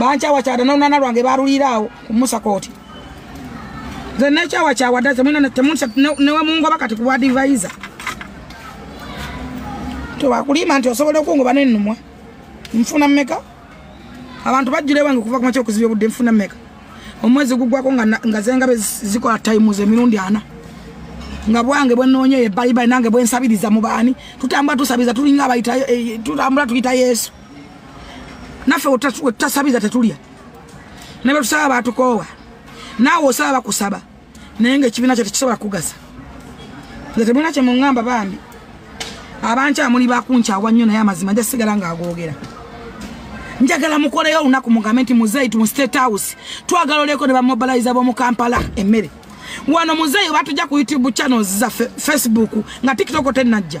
bankyawakyada nolunana lwange baluliiraawo kumusa kooti nze nekyawakyawada newemungoba kati kuwa divaiza tewakulimba nti osobola okungoba nenumwa nfuna mumeka abantu bajjula ewange okuva kumakya okuziba obudde nfuna mumeka omwezi gugwako nga zengabe zikola times emirundi ana nga bwange bwenoonya eyo ebbalibbali nange bwensabiriza mu baani tutambula tusabiriza tulinga abayita eh, tutambula tuyita yesu naffe wetutasabiza tetulya ne betusaba batukoowa naawe osaba bakusaba naye nga ekibiina kyo tekisobola kugasa nze temulina kye muŋŋamba bambi abankyamuli bakunkyawa nnyo naye amazima nja sigala ng'agoogera njagala mukoleyo olunaku mugambe nti muzeeyi tu state house twagala oleeko ne bamobiliza b'omu kampala emmere wano muzeeyi batujja ku youtube channels zaffe facebook nga tiktok tenajja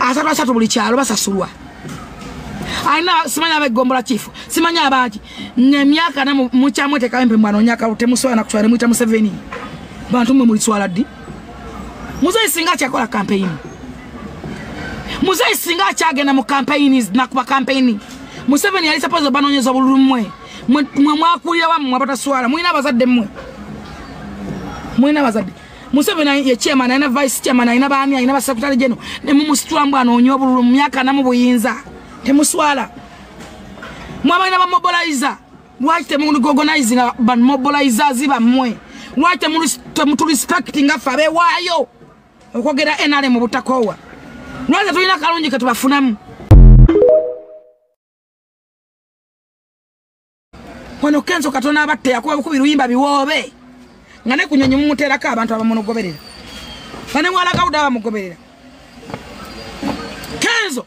asatu asatu buli kyalo basasulwa alina simanya abegombola kifu simanya abaki nemyaka na mukyamwetekawo empe mwanonya kalu temuswala nakuswala nemwita museveni bantu mwe muliswala ddi muzeyi singa akyakola kampeyini muzeyi singa akyagenda mu kampeyini nakuba kampeyini museveni yali sapozi obanonyeza obululu mwe mwe mwakulira wamwe abataswala mulina abazadde mwe mulina abazadde Museveni ye chairman alina vice chairman alina baami alina basekutale geno ne mumusitula mbu anoonya obululu mu myaka anamu buyinza temuswala mwabalina bamobiliza lwaki temuligogonaizinga bamobilizers bammwe lwaki temutulisipakiting affe abewaayo okwogera nr mu butakoowa lwaki tetulina kalungi ketubafunamu wano kenzo katona abatte yakuba bukubi luyimba biwoobe nga ne kunyonyi mumuteerako abantu abamunogoberera nga ne mwalagawuda abamugoberera kenzo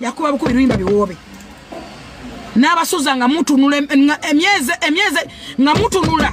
yakuba bukubi luyimba biwoobe n'abasuza nga mutunula emyezi nga mutunula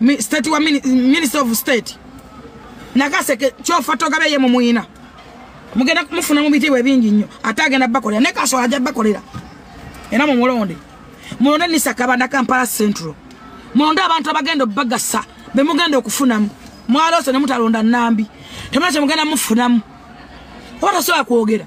Mi- state wa mini- minister of state nakaseke kyofa togabe ye mumuyina mugenda mufuna mu bitiibwa ebingi nnyo ate agenda bakolera ne kasola ajja bakolera era mumulonde mulonde nisakaba na kampala central mulonde abantu abagenda obagasa bemugenda okufunamu mwaloose ne mutalonda nambi temuna kyemugenda mufunamu oba tasobola kwogera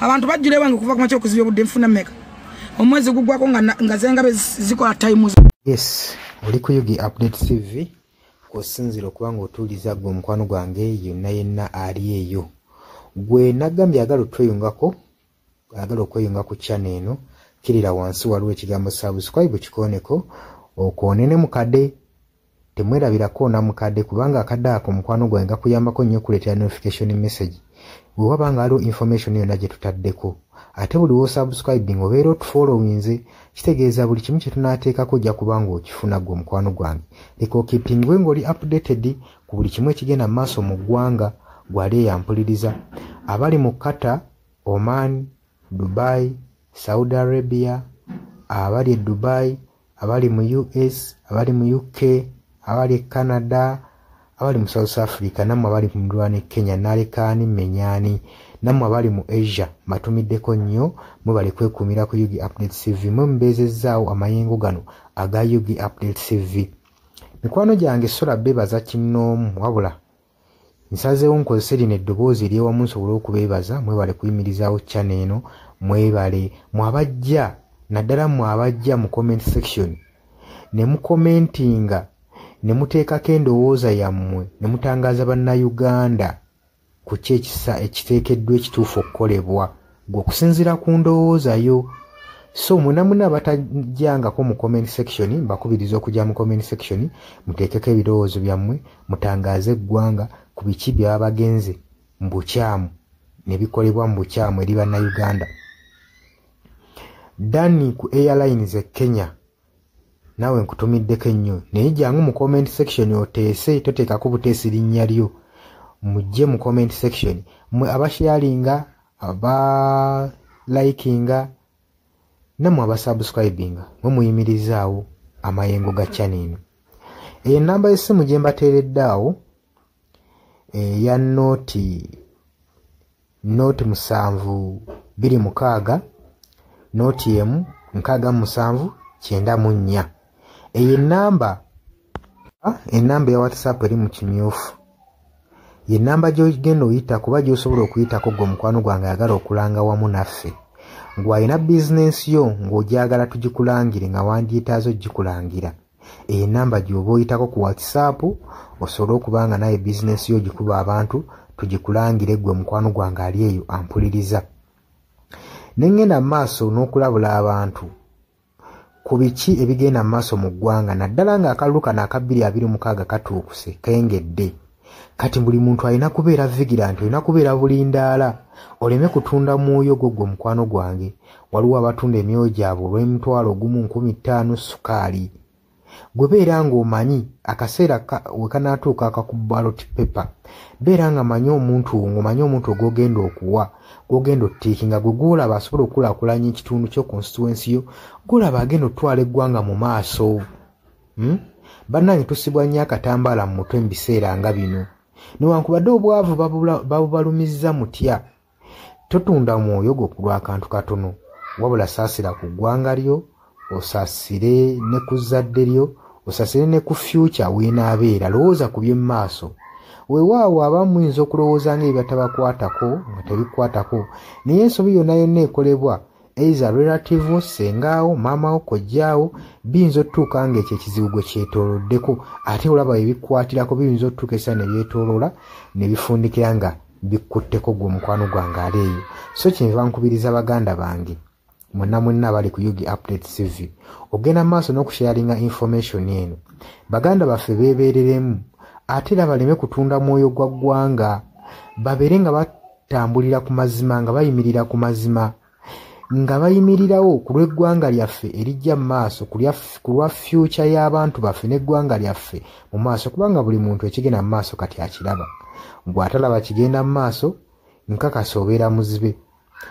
abantu bajjula ewange okuva ku makya okuzibya obudde nfuna meka omwezi gugwako nga zengabe zikola times yes oli ku yugi update tv kwosinzira okuba nga otuuliza gwe omukwano gwange yonna yenna ali eyo gwe nagambye agala otweyungako agala okweyunga ku chana eno kirira wansi waliwo ekigambo subscribe kikoneko okwonene mukade temwerabirako onamukadde kubanga akadde ako mukwano gwange gakuyambako nnyo okuleetera notification message bwe waba nga waliwo information yonna gye tutaddeko ate buli wosubscribing obeera otufollowinze kitegeeza buli kimu kye tunaateekako ojja kuba nga okifuna gwe omukwano gwange leka okipingwe ng'oli updated ku buli kimu ekigenda mu maaso mu ggwanga gwali eyampuliriza abali mu qatar oman dubai saudi arabia abali e dubai abali mu us abali mu uk abali e canada abali mu south africa nammwe abali ku mirwana e kenya nalekaani menyani nammwe abali mu asia mbatumiddeko nnyo mwe bali kwekuumira ku ug update cv mwe mubeezezzaawo amayengo gano aga ug update cv mikwano gyange sula bebaza kinnoomu wabula nsazeewo nkozese lino eddoboozi eryewamu nsobole okubeebaza mwebale kuyimirizaawo chana eno mwebale mwabajja naddala mwe abajja mu comment section ne mukomentinga ne muteekako endowooza yammwe ne mutangaaza bannayuganda ku ki ekisa ekiteekeddwa ekituufu okukolebwa gwe okusinziira ku ndowooza yo so mwena muna abatajangako mu comment section mbakubiriza okujja mu comment section muteekeko ebirowoozo byammwe mutangaaze eggwanga ku biki byaba bagenze mu bukyamu ne bikolebwa mu bukyamu eri bannayuganda dani ku airlines e kenya naawe nkutumiddeko ennyo naye jangu mu comment section oteese toteekako buteesi linnya lyo mujje mu comment section mwe abasharinga aba likinga namwe abasubscribinga mwe muyimirizaawo amayengo ga channel eno eyo ennamba y'essimu gye mbateeredde awo eya nooti nooti musanvu biri mukaaga nooti emu nkaaga musanvu kyenda mu nnya eyo enamba ah, enamba eya whatsapp eri mu kimyufu yenamba gyogenda oyita kuba gyosobola okuyitako gwe omukwano gwange ayagala okulanga wamu naffe ngwalina bizinensi yo ng'ogyagala tugikulangire nga wandyetaaza okugikulangira eyo enamba gyoba oyitako ku whatsapp osobole okuba nga naye bizinesi yo gikuba abantu tugikulangire gwe mukwano gwange ali eyo ampuliriza nengenda mu maaso n'okulabula abantu ku biki ebigenda mu maaso mu ggwanga naddala ng'akalulu kano akabbiri abiri mukaaga katuukuse kengedde kati buli muntu alina kubeera vigilanti olina kubeera bulindaala oleme kutunda mwoyo gwo gwe mukwano gwange waliwo abatunda emyoyo gyabwe olw'emitwalo ogumu nkumi ttaano sukaali gwe beera ng'omanyi akaseera we kanaatuuka akakubaloti pepa beera nga manyi omuntu wo ng'omanyi omuntu ogwogenda okuwa gwogenda ottiiki nga gwe gwolaba asobola okukulaakulanya ekitundu kyo konsituwensi yo gwolaba agenda okutwala eggwanga mu maaso hmm? bannange tusibwa nnyo akatambaala mu mutwe mu biseera nga bino newankubadde obwavu babubalumizza mutya totunda mwoyo gwo ku lwakantu katono wabula saasira ku ggwanga lyo osasire ne ku zzadde lyo osasire ne ku fyukya weenaabeera lowooza ku by'omu maaso weewaawo abamu muyinza okulowooza nga ebibatabakwatako nga tebikwatako naye ensobi yonna yonna ekolebwa eiza relative wo sengaawo maama wo kojjaawo biyinza otutuuka nga ekyo ekizibu gwe kyetoloddeko ate olaba ebikwatirako biyinza otutuuka esa nebyetoloola nebifundikira nga bikkutteko gwe omukwano gwange ali eyo so kyenva nkubiriza baganda bange mwena mwena abali ku ug update cv ogenda mu maaso n'okusharinga information eno baganda baffe beebereremu ate era baleme kutunda mwoyo gwa ggwanga babeere nga tambulira ku mazima nga bayimirira ku mazima nga bayimirirawo ku lw'eggwanga lyaffe erijja mu maaso ku lwa fyuca y'abantu baffe n'eggwanga lyaffe mu maaso kubanga buli muntu ekigenda mu maaso kati akiraba bw'atalaba kigenda mu maaso nkakasa obeera muzibe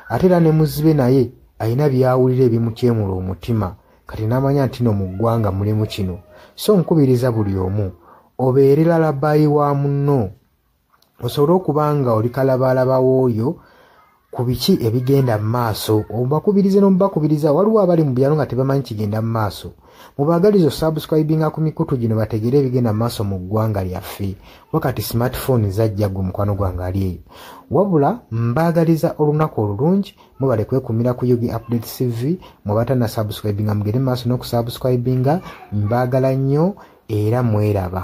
ate era ne muzibe naye alina byawulira ebimukyemula omutima kati n'amanya nti no mu ggwanga mulimu kino so nkubiriza buli omu obeere lalabayi wa munno osobole okuba nga oli kalabaalaba w'oyo ku biki ebigenda mu maaso obakubirize n'omubakubiriza waliwo abali mu byalo nga tebamanyi kigenda mu maaso mubaagaliza osubscribinga ku mikutu gino bategere ebigenda mu maaso mu ggwanga lyaffe kuba kati smartphone zajja gwe mukwano gwange ali eyo wabula mbaagaliza olunaku olulungi mubale kwekumira ku yugi update cv mwebata na subscribinga mugende mu maaso n'okusubscribinga mbaagala nnyo era mweraba